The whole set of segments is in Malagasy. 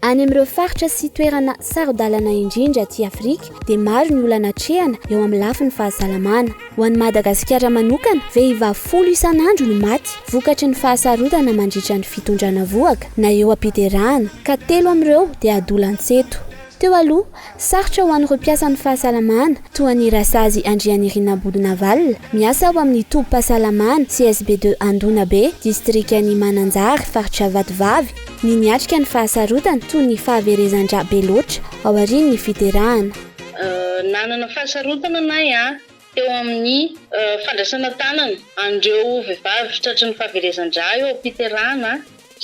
Any amin'ireo faritra sy toerana saro-dalana indrindra aty Afrika dia maro ny olana atrehana eo amin'ny lafiny fahasalamana. Ho an'i Madagasikara manokana, vehivavy folo isan'andro no maty vokatry ny fahasarodana mandritra ny fitondrana vohoka na eo am-piderahana, ka telo amin'ireo dia adolantsento. Teo aloha, Sarotra ho an'ireo mpiasan'ny fahasalamana toa an'i Rasazy Andrianirina Bodonavalona, miasa ao amin'ny tobim-pahasalamana CSB de Andonabe, distrikan'i Mananjary, faritra Vatovavy, ny niatrika ny fahasarotana toy ny fahaverezan-drà be loatra aorian'ny fiderana. Nanana fahasarotana anay an! teo amin'ny fandraisana tanana an'ireo vehivavy tratry ny fahaverezan-drà eo am-piterahana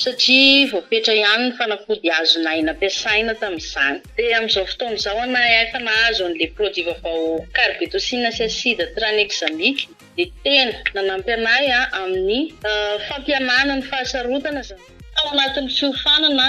satria voafetra ihany ny fanafody azonay nampiasaina tamin'izany. Dia amin'izao fotoana izao ana efa nahazo an'ilay produit vaovao carbetocine sy acide tranexamique dia tena nanampy anay amin'ny fampihenana ny fahasarotana izany. Tao anatin'ny fiofanana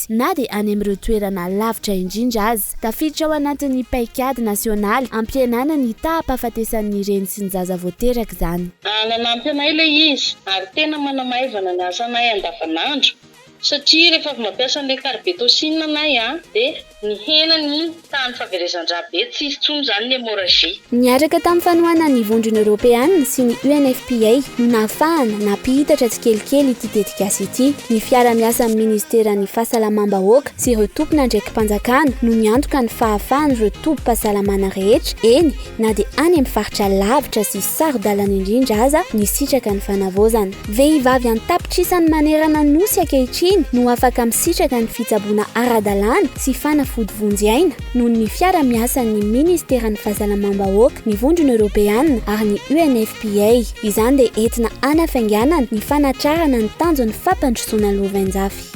na dia any amin'ireo toerana lavitra indrindra aza. Tafiditra ao anatin'ny paikady nasionaly hampihenana ny taha-pahafatesan'ny reny sy ny zaza vao teraka izany. Nanampy anay ilay izy ary tena manamaivana ny asanay andavanandro satria rehefa avy mampiasa an'ilay carbetocin anay dia nihena ny Tahan'ny fahaverezan-drà be, tsy hisy intsony izany ny hémorragie. Niaraka tamin'ny fanohanana ny Vondrona Eoropeana sy ny UNFPA no nahafahana nampihitatra tsikelikely ity tetikasa ity. Ny fiara-miasa amin'ny Ministeran'ny Fahasalamam-bahoaka sy ireo tompon'andraiki-panjakana no niantoka ny fahafahan'ireo tobim-pahasalamana rehetra, eny, Na dia any amin'ny faritra lavitra sy saro-dalana indrindra aza ny sitraka ny fanavaozana. Vehivavy an-tapitrisany manerana Nosy ankehitriny no afaka misitraka ny fitsaboana ara-dalàna sy fanafody vonjy aina noho ny fiara miasan'ny Ministeran'ny Fahasalamam-bahoaka, ny Vondrona Eoropeana ary ny UNFPA. Izany dia entina hanafainganana ny fanatrarana ny tanjon'ny fampandrosoana lovainjafy.